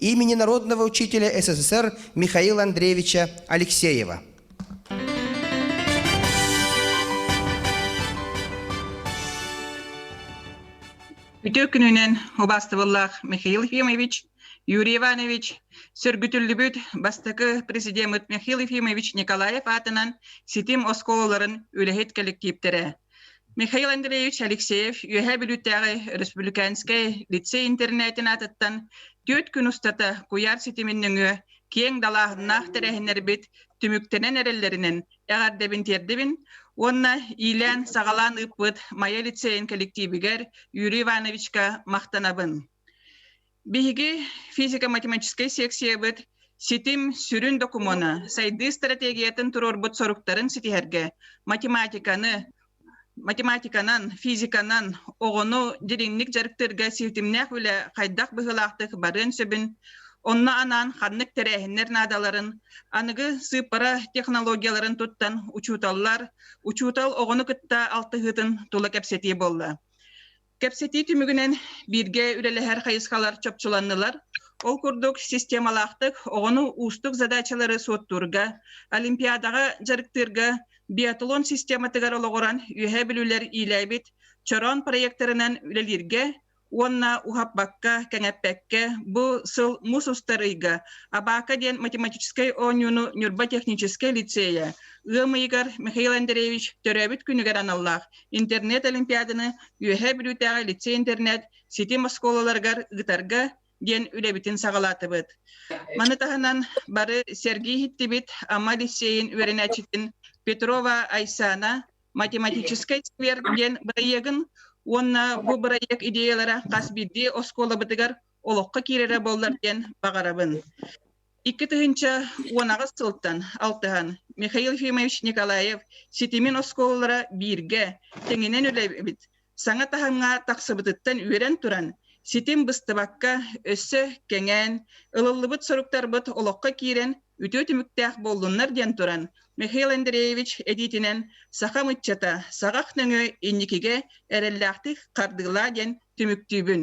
имени народного учителя СССР Михаила Андреевича Алексеева. Үтө күнүнэн убастывыллах Михаил Ефимович, Юрий Иванович, сөргүтүллүбүт бастакы президемит Михаил Ефимович Николаев атынан ситим осколаларын үлэһит коллективтере, Михаил Андреевич Алексеев Үөһээ Бүлүүтээҕи Республиканскай лицей-интернетин аатыттан түөрт күн устата куйаар ситимин нөҥүө киэҥ далааһыннаах тэрээһиннэрбит түмүктэнэн эрэллэринэн эҕэрдэбин тиэрдибин уонна иилээн-саҕалаан ыыппыт Майа лицейин кэлэктиибигэр Юрий Ивановичка махтанабын. Биһиги физико-математическай сиэксийэбит ситим сүрүн докумуона сайдыы стратегиятын туруорбут соруктарын ситиһэргэ математиканы математиканан, физиканан оҕону дириҥник дьарыктыырга ситимнээх үлэ хайдах быһыылаахтык барыан сөбүн, онно анаан ханнык тэрээһиннэр наадаларын, аныгы сыыппара технологияларын туттан учууталлар, учуутал оҕону кытта алтыһыытын тула кэпсэтии буолла. Кэпсэтии түмүгүнэн бииргэ үлэлэһэр хайысхалар чопчуланнылар. Ол курдук, системалаахтык оҕону уустук задачалары суоттуурга, Олимпиадаҕа дьарыктыырга биатлон систематыгар олоҕуран үөһээ билиилэр иилээбит чороон проекторынан үлэлииргэ уонна уһаппакка, кэҥэппэккэ бу сыл мус устар ыйга Абака диэн математическай оонньууну Ньурба техническэй лицейэ ыам ыйыгар Михаил Андреевич төрөөбүт күнүгэр аналлаах интернет-олимпиаданы Үөһээ Бүлүүтээҕи лицей-интернет ситим оскуолаларыгар ыытарга диэн үлэбитин саҕалаатыбыт. Маны таһынан бары сэргии иһиттибит Амма лицейин үөрэнээччитин Петрова Айсана математическай сквер диэн бырайыагын уонна бу бырайыак идеялара хас биирдии оскуолабытыгар олоххо киирэрэ буоллар диэн баҕарабын. Икки тыһыынча уон аҕыс сылтан алтыһан Михаил Ефимович Николаев ситимин оскуолалара бииргэ тэҥинэн үлэлэбит саҥа таһымҥа тахсыбытыттан үөрэн туран ситим быстыбакка өссө кэҥээн ылыллыбыт соруктарбыт олоххо киирэн үтүө түмүктээх буоллуннар диэн туран Михаил Андреевич этиитинэн сахам ыччата саҕах нөҥүө инникигэ эрэллээхтик хардыылаа диэн түмүктүүбүн.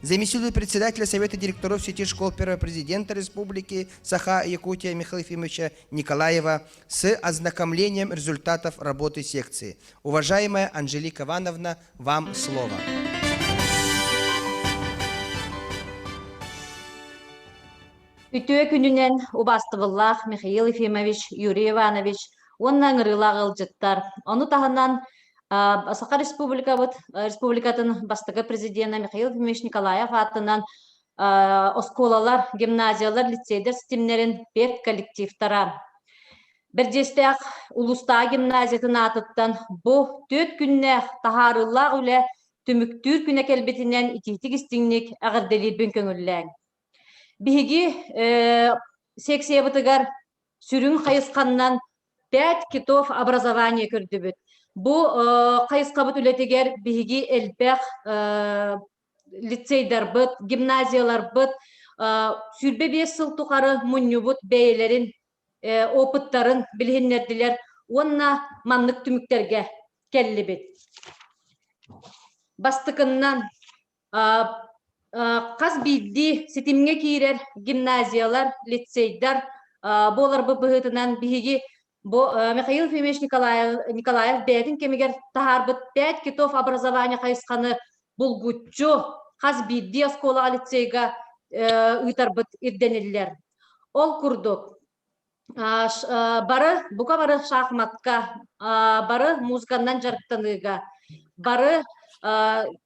заместитель председателя Совета директоров сети школ первого президента республики Саха Якутия Михаила Ефимовича Николаева с ознакомлением результатов работы секции. Уважаемая Анжелика Ивановна, вам слово. Үтүө күнүнэн убастыбыллаах Михаил Ефимович, Юрий Иванович уонна ыҥырыылаах ыалдьыттар. Ону таһынан Саха Республикабыт республикатын бастакы президенэ Михаил Ефимович Николаев аатынан оскуолалар, гимназиялар, лицейдэр ситимнэрин педколлективтара Бэрдьиэстээх улуустааҕы гимназиятын аатыттан бу түөрт күннээх таһаарыылаах үлэ түмүктүүр күнэ кэлбитинэн итиитик-истиҥник эҕэрдэлиирбин көҥүллээҥ! Биһиги секциябытыгар сүрүн хайысханнан пять китов образование көрдүбүт. Бу хайысхабыт үлэтигэр биһиги элбэх лицейдарбыт, гимназияларбыт сүүрбэ биэс сыл тухары мунньубут бэйэлэрин опыттарын билиһиннэрдилэр уонна маннык түмүктэргэ кэллибит. Бастыкыннан Хас биирдии ситимҥэ киирэр гимназиялар, лицейдар буоларбыт быһыытынан биһиги бу Михаил Ефимович Николаев, Николаев бэйэтин кэмигэр таһаарбыт пять китов образования хайысханы булгуччу хас биирдии оскуолаҕа, лицейга ыытарбыт ирдэниллэр. Ол курдук, бары бука бары шахматка бары музыканнан дьарыктаныыга бары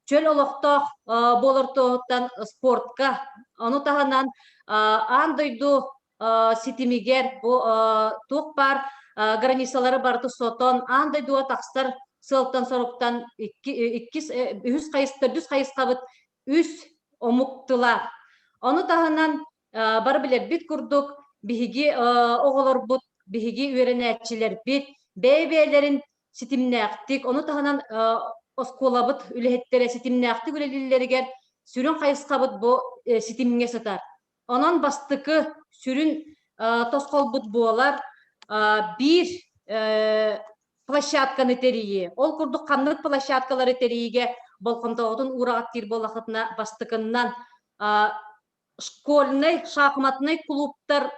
чөл олохтоох буолартуоһуттан спортка ону таһынан аан дойду ситимигэр туох баар границалары барыта сотон аан дойдуга тахсар сыалтан-соруктан иккис үһүс хайыс төрдүс хайысхабыт үс омук тыла ону таһынан Бары билэрбит курдук, биһиги оҕолорбут, биһиги үөрэнээччилэрбит бэйэ-бэйэлэрин ситимнээхтик, ону таһынан оскуолабыт үлэһиттэрэ ситимнээхтик үлэлииллэригэр сүрүн хайысхабыт бу ситимҥэ сытар. Онон бастакы сүрүн тосхолбут буолар биир площадканы тэрийии. Ол курдук ханнык площадкалары тэрийиигэ болҕомтоҕутун уураҕаттыыр буоллахытына бастакыннан школьнай, шахматнай кулууптар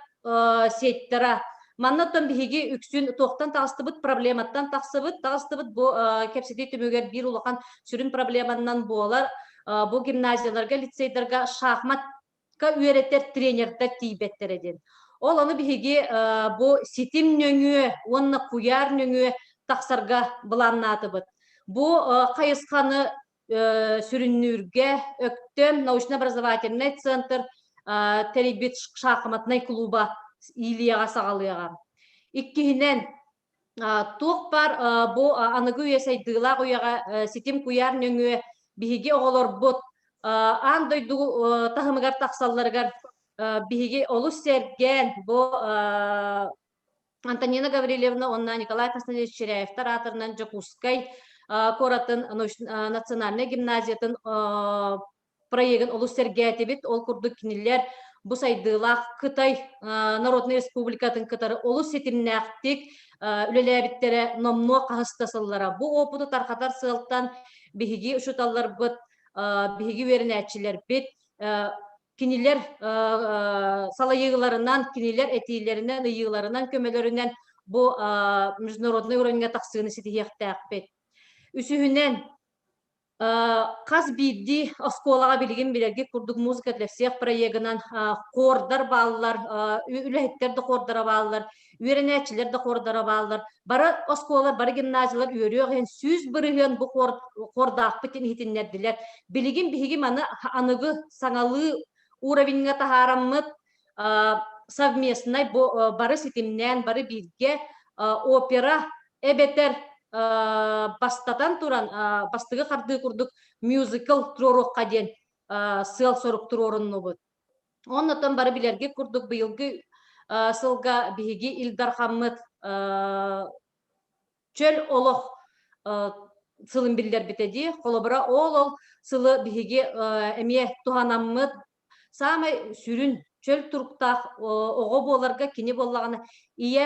сиэттэрэ. Манна оттон биһиги үксүн туохтан таҕыстыбыт, проблематтан тахсыбыт, таҕыстыбыт бу кэпсэтии түмүгэр биир улахан сүрүн проблеманнан буолар бу гимназияларга, лицейдарга шахматка үөрэтэр тренердэр тиийбэттэрэ диэн. Ол ону биһиги бу ситим нөҥүө уонна куйаар нөҥүө тахсарга былааннаатыбыт. Бу хайысханы сүрүннүүргэ Өктөм научно-образовательный центр тэрийбит шахматнай клуба иилияҕа саҕалыаҕа. Иккиһинэн, туох баар бу аныгы үйэ сайдыылаах үйэҕэ ситим куйаар нөҥүө биһиги оҕолорбут аан дойду таһымыгар тахсалларыгар биһиги олус сэргээн бу Антонина Гаврильевна уонна Николай Константинович Черяевтар аатырынан Дьокуускай куоратын национальнай гимназиятын проегын олус сэргээтибит. Ол курдук кинилэр бу сайдыылаах Кытай Народнай Республикатын кытары олус ситимнээхтик үлэлээбиттэрэ номнуо хаһыс да сыллара. Бу опыту тарҕатар сыалтан биһиги учууталларбыт, биһиги үөрэнээччилэрбит кинилэр салайыыларынан, кинилэр этиилэринэн, ыйыыларынан, көмөлөрүнэн бу международнай уровеньга тахсыыны ситиһиэхтээхпит. Үсүһүнэн, хас биирдии оскуолаҕа билигин билэргит курдук музыка для всех проегынан хордар бааллар, үлэһиттэр да хордара бааллар, үөрэнээччилэр да хордара бааллар бары оскуолалар бары гимназиялар үөрүөх иһин сүүс бырыһыан бу хордаахпыт иһитиннэрдилэр билигин биһиги маны аныгы саҥалыы уровеньҥа таһаараммыт совместнай бары ситимнээн бары бииргэ опера эбэтэр бастатан туран бастыгы хардыы курдук мюзикл туруоруохха диэн сыал сорук туруоруннубут Оннотон бары билэрги курдук быйылгы сылга биһиги Ил Дархаммыт чөл олох сылын биллэрбите дии. Холобура, ол-ол сылы биһиги эмиэ туһанаммыт саамай сүрүн чөл туруктаах оҕо буоларга кини боллаҕына ийэ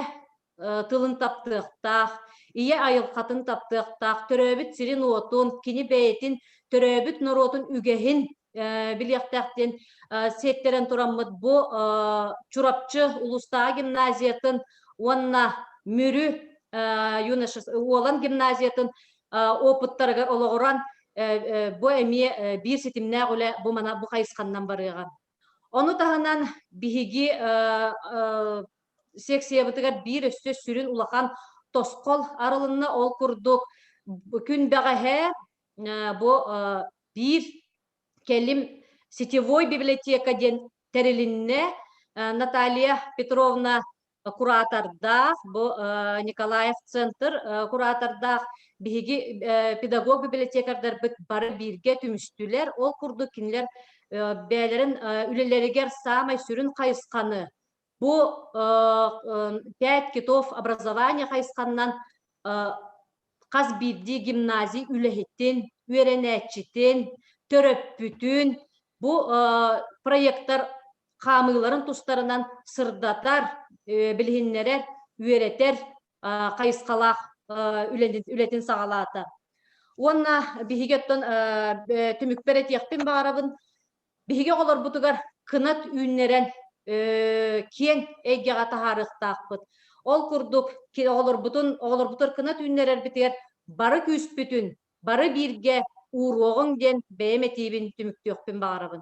тылын таптыахтаах, ийэ айылхатын таптыахтаах, төрөөбүт сирин-уотун, кини бэйэтин, төрөөбүт норуотун үгэһин билиэхтээх диэн сиэттэрэн тураммыт бу Чурапчы улуустааҕы гимназиятын уонна Мүрү Уолан гимназиятын опыттарыгар олоҕуран бу эмиэ биир ситимнээх үлэ бу мана бу хайысханнан барыаҕа. Ону таһынан биһиги секциябытыгар биир өссө сүрүн улахан тосхол арылынна ол курдук күн бэҕэһээ бу Биир кэлим сетевой библиотека диэн тэрилиннэ. Наталья Петровна куратордаах, бу Николаев центр куратордаах биһиги педагог библиотекардарбыт бары бииргэ түмүстүлэр. Ол курдук кинилэр бэйэлэрин үлэлэригэр саамай сүрүн хайысханы Бу пять китов образования хайысханнан хас биирдии гимназий үлэһитин, үөрэнээччитин, төрөппүтүн бу проектор хаамыыларын тустарынан сырдатар, билиһиннэрэр, үөрэтэр хайысхалаах үлэтин саҕалаата. Уонна биһиги оттон түмүкпэр этиэхпин баҕарабын, биһиги оҕолорбутугар кынат үүннэрэн киэҥ эйгэҕэ таһаарыахтаахпыт. Ол курдук оҕолорбутун оҕолорбутугар кынат үүннэрэрбитигэр бары күүспүтүн, бары бииргэ ууруоҕуҥ диэн бэйэм этиибин түмүктүөхпүн баҕарабын.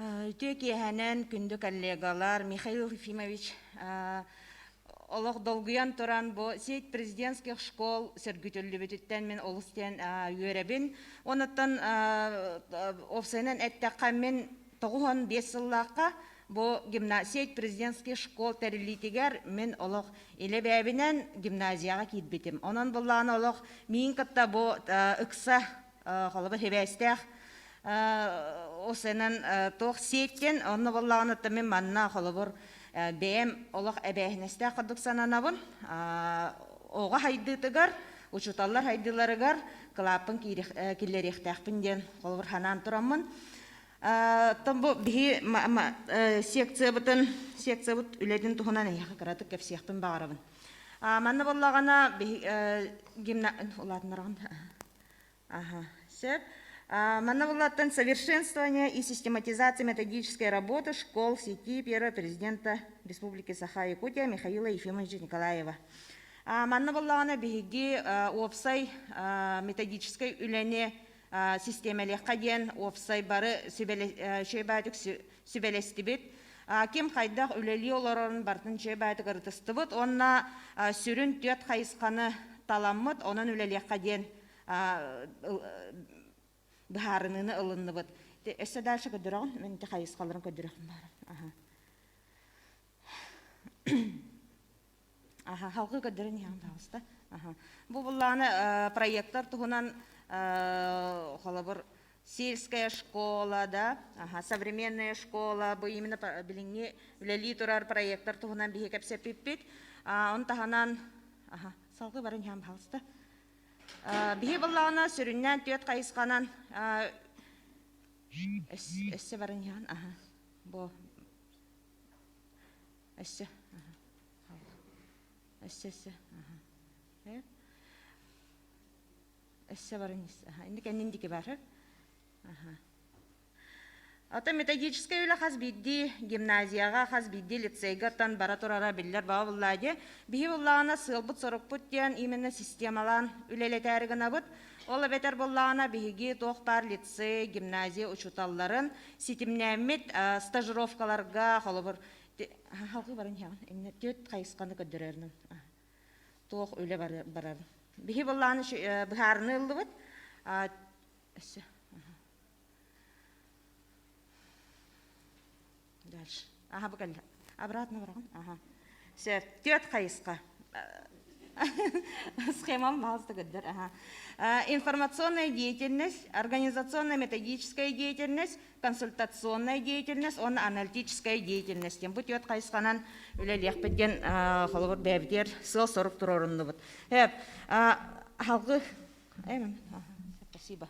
Үтүө киэһэнэн күндү коллегалар Михаил Ефимович олох долгуйан туран бу сеть президентских школ сөргүтүллүбүтүттэн мин олус диэн үөрэбин онуттан уопсайынан эттэххэ мин тоҕуһун биэс сыллаахха бу гимна сеть президентских школ тэриллиитигэр мин олох илэбээбинэн гимназияҕа киирбитим онон буллаҕына олох миин кытта бу ыкса холобур хибээстээх усенан туох сиэттен онно боллаҕыныттан мин манна холобур бэйэм олох эбээһинэстээх курдук сананабын оҕо хайдыытыгар учууталлар хайдыыларыгар кылааппын киллэриэхтээхпин диэн холобур санаан тураммын Тон бу биһи секциябытын секциябыт үлэтин туһунан эһиэхэ кыратык кэпсиэхпин баҕарабын манна боллаҕана биһи гимна улаатыннараҕын Ага, все. Манна буллаттан совершенствование и систематизация методической работы школ сети первого президента Республики Саха Якутия Михаила Ефимовича Николаева. Манна боллаҕына биһиги уопсай методическай үлэни системалехқа диэн уопсай бары сүбэлэ сүбэлэстибит. Ким хайдах үлэлии олорорун бартын дьиэ баайытыгар ытыстыбыт уонна сүрүн түөрт хайысханы таламмыт, онон үлэлиэххэ диэн быһаарыныыны ылынныбыт. Өссө дальше көрдөрөҕүн, мен ити хайысхаларын көрдөрөхпүн баара. Аха, халкы көрдөрөн иһэҥ таҕыста. Аха. Бу буллааны проектор туһунан холобур сельская школа, да, аха, современная школа, бу именно билиҥҥи үлэлии турар проектор туһунан биһи кэпсэппиппит. Он таһынан, аха, салгы барын иһэн баалыста. Биһи буллаана сүрүннээн түөт хайысқанан эссе барын иһэн, аха, бу Өссө. Өссө, өссө. Өссө баран ис. Инди кэннин дики барар. Ата методическай үлэ хас биирдии гимназияга, хас биирдии лицейга тан бара турара биллер баба буллааде. Биһи буллаана сыалбут сорукпут диэн именно системалаан үлелетәри гынабыт. Ол бетер буллаана биһиги тоқтар лицей, гимназия учуталларын ситимнәммит стажировкаларга холобур халкы баран иһэҕин инне түөт хайысханы көрдөрөрүн туох үлэ барар биһи боллааны быһаарыны ыллыбыт өссө дальше ага бу кэлле обратно барагын ага сер түөт хайысқа схемам баласта көрдөр ага информационная деятельность организационно методическая деятельность консультационная деятельность уонна аналитическая деятельность диэн бу түөрт хайысханан үлэлиэхпит диэн холобур бэйэбитигэр сыал-сорук туруоруннубут. Аһалгы спасибо.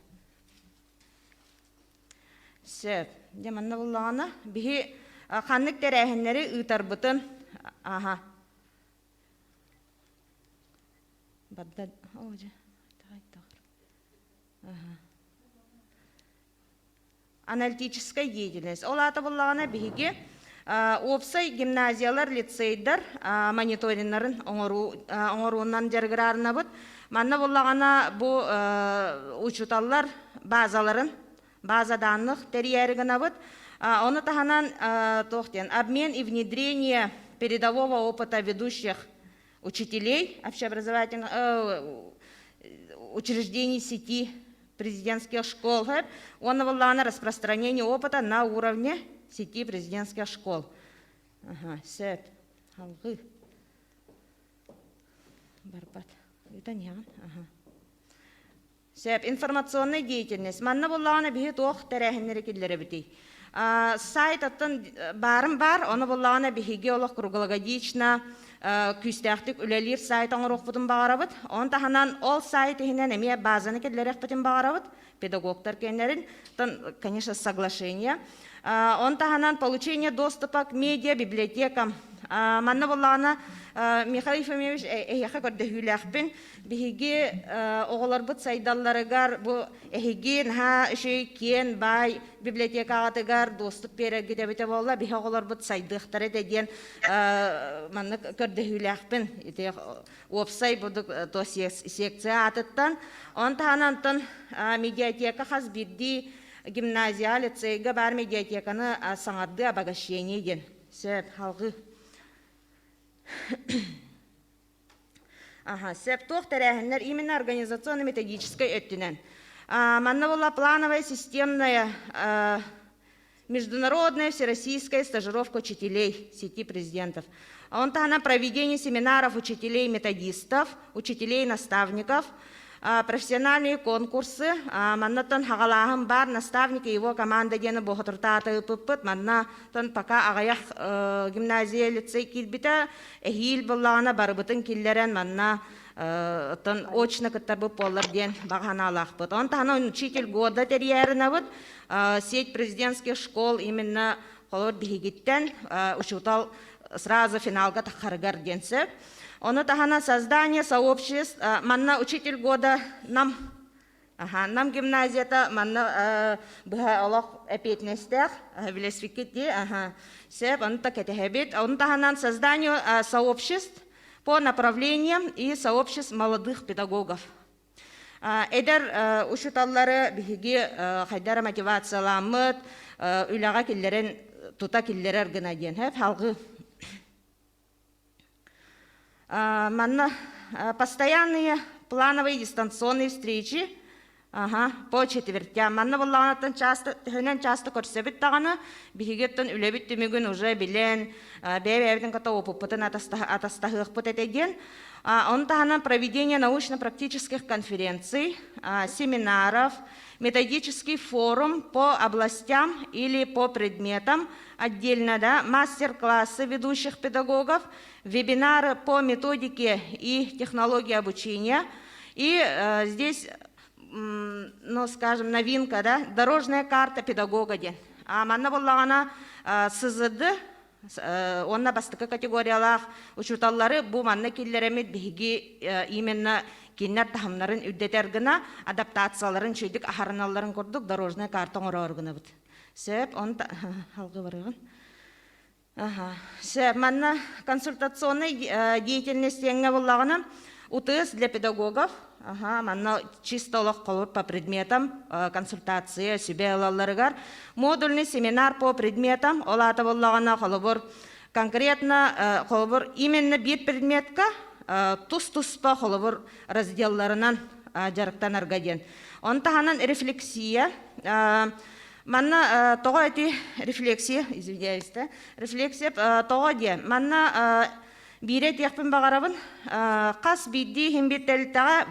Сөп. Дьэ манна буллаҕына биһи ханнык тэрээһиннэри ыытарбытын аха. Барда о же. Ага. аналитическай деятельность. Ол аата буллаҕына биһиги уопсай гимназиялар, лицейдар мониториннарын оҥоруу оҥоруунан дьарыгыраарынабыт. Манна буллаҕына бу учууталлар базаларын база данных тэрийээри гынабыт. Ону таһынан туох диэн обмен и внедрение передового опыта ведущих учителей общеобразовательных э, учреждений сети президентских школ уонна буоллаҕына распространение опыта на уровне сети президентских школ. Ага, сөп. Алғы. Барбат. Это не Ага. Сөп. Информационнай деятельность. Манна буллаҕына биһи туох тэрээһиннэри киллэрэбитий? Сайтаттан баарым баар, ону буллаҕына биһиги олох круглогодично күүстээхтик үлэлиир сайт оҥоруохпутун баҕарабыт. Оны таһынан ол сайт иһинэн эмиэ баазаны киллэриэхпитин баҕарабыт педагогтар киэннэрин, конечно, соглашение. Он таһынан получение доступа к медиабиблиотекам. Манна буллаҕына Михаил Ефимович эһиэхэ көрдөһүүлээхпин Биһиги оҕолорбут сайдалларыгар бу эһиги наһаа үчүгэй киэн баай библиотекаҕытыгар дуостук биэрэргит эбитэ буолла биһи оҕолорбут сайдыахтара этэ диэн маннык көрдөһүүлээхпин ити уопсай бурдук то секция аатыттан он таһынан антон медиатека хас биирдии гимназия лицейга баар медиатеканы саҥардыы обогащение диэн сөп халҕыы Ага, сөп туох тэрээһиннэр именно организационно-методическай өттүнэн. Манна была плановая системная международная всероссийская стажировка учителей сети президентов. Он таһынан проведение семинаров учителей-методистов, учителей-наставников, профессиональные конкурсы маннаттан хагалааһын бар наставники его команда диэни бохотуртаатыппыт манна тон пока аҕыйах гимназия лицей килбитэ эһиил буллаҕына барыбытын киллэрэн манна оттон очно кыттарбыт буоллар диэн бағаналаахпыт он таһынан учитель года терьярынабыт сеть президентских школ именно холор биһигиттэн учутал сразу финалга тахарыгар диэн сөп Ону таһынан создание сообществ манна учитель года нам Аха, Нам гимназията манна быһа олох эпиэтинэстээх билэспиккит дии аха сеп аны так кэтэһэбит ону таһынан создание сообществ по направлениям и сообществ молодых педагогов эдэр учуталлары биһиги хайдара мотивацияламмыт үлэҕэ киллэрэн тута киллэрэр гына диэн хап халгы Манна постоянные плановые дистанционные встречи Аха, по четвертя. Манна буллаҕанаттан часто, төһөнөн часто көрсөбүт даҕаны, биһигиттэн үлэбит түмүгүн уже билэн, бэйэ-бэйэбитин ката опыппытын атастаһыахпыт этэ диэн. Ону таһынан проведение научно-практических конференций, семинаров, методический форум по областям или по предметам Отдельно да мастер-классы ведущих педагогов, вебинары по методике и технологии обучения. И э, здесь, ну, скажем, новинка, да, дорожная карта педагога диэн. А манна буллаҕана сызыды онна бастакы категориялаах учуталлары бу манна киллеремит биһиги именно кинилэр таһымнарын үрдэтэр гына адаптацияларын чөйдүк аһарыналларын курдук дорожная карта оҥороор гынабыт. Сөп, он алговорыгын. Ага. Ше, манна консультационный деятельностьеҥҥа буллаҕына УТС для педагогов Аха, манна чисто олох холур по предметам консультация сүбэ ылалларыгар модульный семинар по предметам ол аата боллаҕына холобур конкретно холобур именно бир предметка тус туспа холобур разделларынан дьарыктанарга диэн. Ону таһынан рефлексия Манна тоҕо эти рефлексия, извиняюсь, да, рефлексия тоҕо диэ, манна биирэ этиэхпин баҕарабын, хас биирдии химбит тэлтэҕэ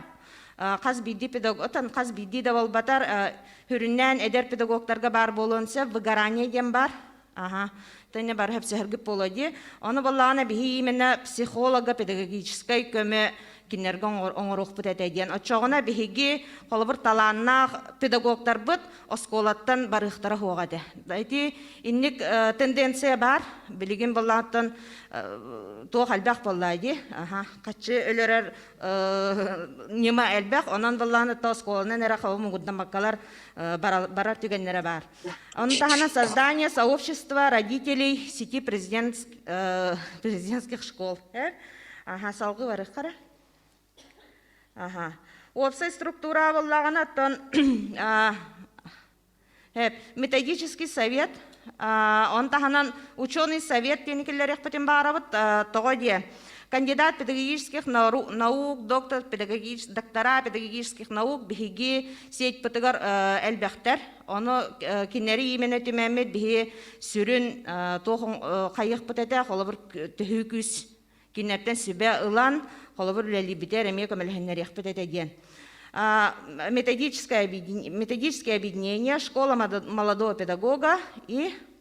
хас биирдии педагог, отон хас биирдии да буолбатар, сүрүннээн эдэр педагогтарга баар буолуон сөп, выгорание диэн баар, Ага. Тэнне бар хепсехергип полоди. Оны боллаана биһи именно психолога педагогической көмө кинилерге оңоруохпут этэ диэн. Оччоҕуна биһиги холобур талааннаах педагогтарбыт оскуолаттан барыахтара хуога этэ. Ити инник э, тенденция бар. Билигин боллааттан э, туох элбэх боллайды. Ага. Каччы өлөрөр э, нема элбэх. Онон боллааны оскуоланан эре хавым угуддан баккалар барар түгеннере бар. Ону таһынан создание сообщества родителей сети президент, э, президентских школ. Аха, салгы барык хара. Аха. Уопсай структура абыллагана оттон методический совет он таһынан ученый совет тиникиллерехпутин баарабыт тоҕо дие кандидат педагогических наук доктор педагогич доктора педагогических наук биһиги сеть пытыгар элбэхтер Ону кинилэри именно түмэммит биһи сүрүн туох хайыхпыт этэ холобур төһүү күүс кинилэртэн сүбэ ылан холобур үлэлиибитэ эмиэ көмөлөһөннөрүөхпүт этэ диэн методическое объединение школа молодого педагога и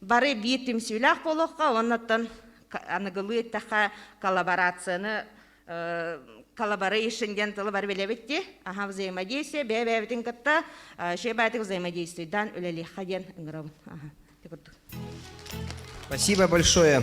Бары биир түмсүүлээх буолуохха, оннуттан аныгылыы эттэххэ коллаборацияны коллаборейшн диэн тылы бары билэбит дии аха взаимодействие бэйэ бэйэбитин кытта шебатик взаимодействуйдан үлэлиэххэ диэн ыҥырабын аха курдук спасибо большое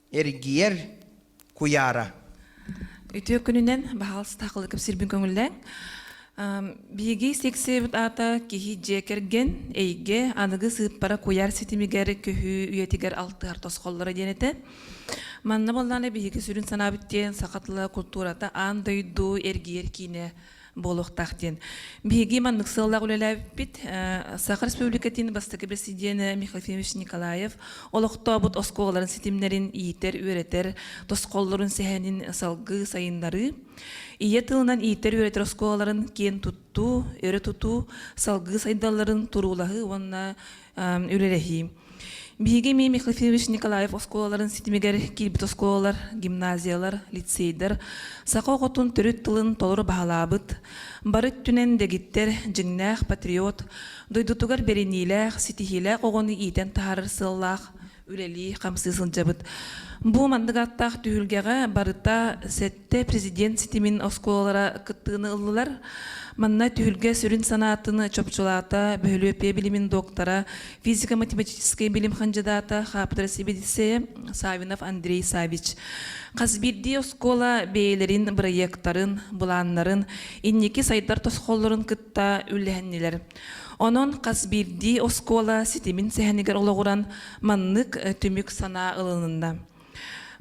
эргийэр куйаара үтүө күнүнэн баһаалыста хылыкып сирбин көңүллэҥ биһиги сиксибит аата киһи дьиэ кэргэн эйгэ аныгы сыыппара куйаар ситимигэр көһүү үйэтигэр алтыһар тосхоллоро диэн этэ манна боллаана биһиги сүрүн санаабыт диэн саха тыла култуурата аан дойду эргийэр киинэ буолуохтаах диэн. Биһиги маннык сыаллаах үлэлээбиппит Саха Республикатын бастакы бэсидиэнэ Михаил Ефимович Николаев олохтообут оскуолаларын ситимнэрин иитэр, үөрэтэр тосхоллорун сэһэнин салгыы сайыннарыы, ийэ тылынан иитэр-үөрэтэр оскуолаларын киэн туттуу, өрө тутуу, салгыы сайдалларын туруулаһыы уонна үлэлэһии. Биһиги эмиэ Михаил Николаев оскуолаларын ситимигэр киирбит оскуолалар, гимназиялар, лицейдэр саха оҕотун төрүт тылын толору баһылаабыт, бары өттүнэн дэгиттэр, дьиҥнээх патриот, дойдутугар бэриниилээх, ситиһиилээх оҕону иитэн таһаарар сыаллаах үлэлии хамсыы сылдьабыт. Бу маннык аттаах түһүлгэҕэ барыта сэттэ президент ситимин оскуолалара кыттыыны ыллылар. Манна түһүлгэ сүрүн санаатын чопчулаата бөһүлүөппүйэ билимин доктора, физико-математическай билим хандьыдаата, хаапытара сибидисэйэ Савинов Андрей Савич. Хас биирдии оскуола бэйэлэрин бырайыактарын, былааннарын, инники сайдар тосхоллорун кытта үллэһиннилэр. Онон хас биирдии оскуола ситимин сэһэнигэр олоҕуран маннык э, түмүк санаа ылынна.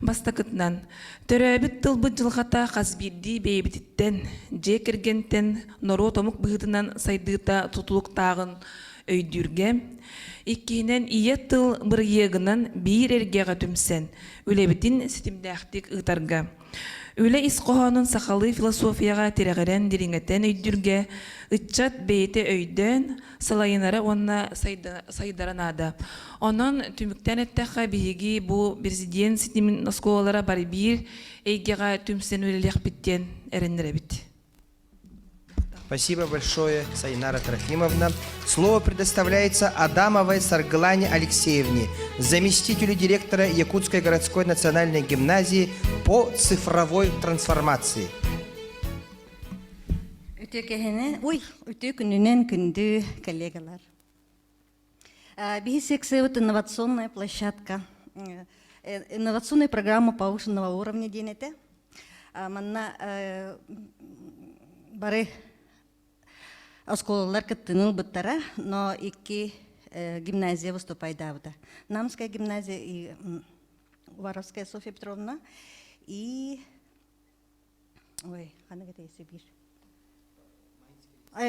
Бастакытынан, төрөөбүт тылбыт дьылҕата хас биирдии бэйэбититтэн, дьиэ кэргэнтэн, норуот омук быһыытынан сайдыыта тутулуктааҕын өйдүүргэ. Иккиһинэн, ийэ тыл бырайыагынан биир эргэҕэ түмсэн, үлэбитин ситимнээхтик ыытарга. Үлэ ис хоһоонун сахалыы философияҕа тирэҕирэн дириҥэтэн өйдүүргэ ыччат бэйэтэ өйдөөн, салайынара уонна сайдара наада. Онон түмүктэн эттэххэ, биһиги бу президент ситимин оскуолалара бары биир эйгэҕэ түмсэн үлэлиэхпит диэн эрэннэрэбит. Спасибо большое, Сайнара Трофимовна. Слово предоставляется Адамовой Сарглане Алексеевне, заместителю директора Якутской городской национальной гимназии по цифровой трансформации. Үтүө кэһэни, ой, үтүө күнүнэн күндү коллегалар. BC-XV инновационная площадка, инновационная программа повышенного уровня диэн этэ. Манна бары оскуолалар кыттыны ылбыттара, но икки гимназия выступайдаабыта. Намская гимназия и Воровская Софья Петровна и Ой, ханнык это Сибирь?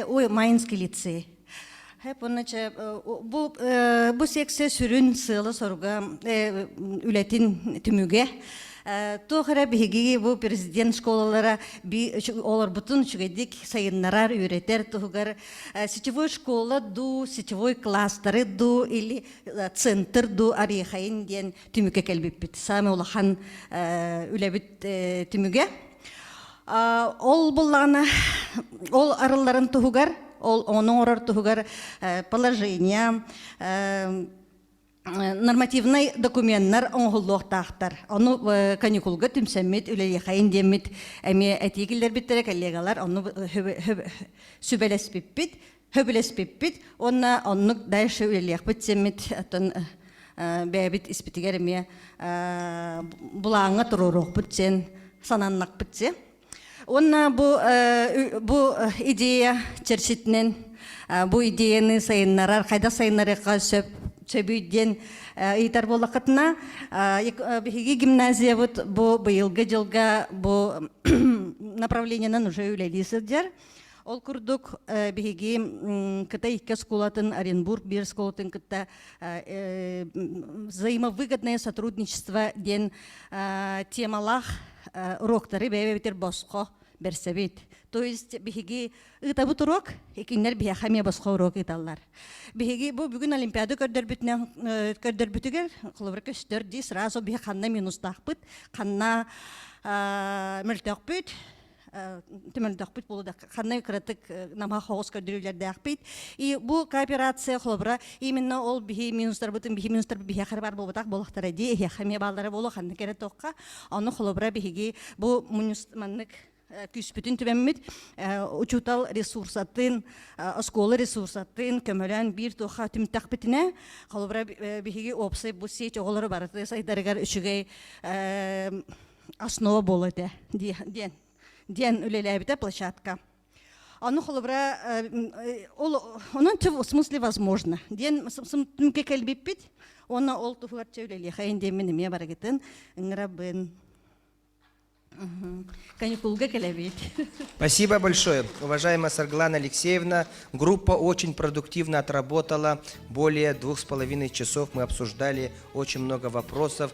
Ой, Майнский лицей. Понначе бу бу секция сүрүн сыала-соруга үлэтин түмүгэ Тохара биһиги бу президент школалара би олорбутун үчүгэйдик сайыннарар, үөрэтэр туһугар сетевой школа дуу, сетевой кластеры дуу или центр дуу арихайын диэн түмүккэ кэлбиппит самый улахан үлэбит түмүгэ ол буллаана ол арылларын туһугар ол оны оҥорор туһугар положение нормативнай документтар оҥоһуллуохтаахтар ону каникулга түмсэммит үлэлиэхэйин диэммит эмиэ этии киллэрбиттэрэ коллегалар ону сүбэлэспиппит Хөбүлэспиппит уонна оннук дальше үлэлиэхпит сэммит оттон бэйэбит испитигэр эмиэ булааҥҥа туруоруохпут сен сананнакпыт сен Уонна бу, бу идея черчитинен бу идеяны сайыннарар, хайда сайыннарыахха сөп сөбүй диэн ыйтар буоллаххытына, биһиги гимназиябыт бу быйылгы дьылга бу направлениенан уже үлэлии сылдьар. Ол курдук биһиги Кытай икки оскуолатын, Оренбург биир оскуолатын кытта взаимовыгодное сотрудничество диэн темалаах уроктары бэйэбитир босхо берсебит. То есть биһиги ытабыт урок, икиннер биһэхэ ме босхо урок ыталлар. Биһиги бу бүгүн Олимпиада көрдөрбүтүнэн көрдөрбүтүгэр холобур көстөр ди сразу биһ ханна минустахпыт, ханна мөлтөкпүт, түмөлдөхпүт булуда ханны кыратык намха хоҕус көрдүрүүлэрдээхпит и бу кооперация холобура именно ол биһи минустарбытын биһи минустар биһиэхэр бар буолбатах буолахтара дии эһиэхэмие бааллара буолуох ханны кэрэ туохха ону холобура биһиги бу мунюстманнык күүспүтүн түбэммит учуутал ресурсатын оскуола ресурсатын көмөлөөн биир туохха түмтэхпитинэ холобура биһиги опсай бу сеч оҕолору барыты сайдарыгар үчүгэй основа буолла этэ диэн диэн үлэлээбитэ площадка ону холобура онон в смысле возможно диэн түмүккэ кэлбиппит уонна ол туһугар чэ үлэлиэхэйин диэммин эмиэ барыгытын ыҥырабын каникулга кэлэбит спасибо большое уважаемая сарглана алексеевна группа очень продуктивно отработала более двух с половиной часов мы обсуждали очень много вопросов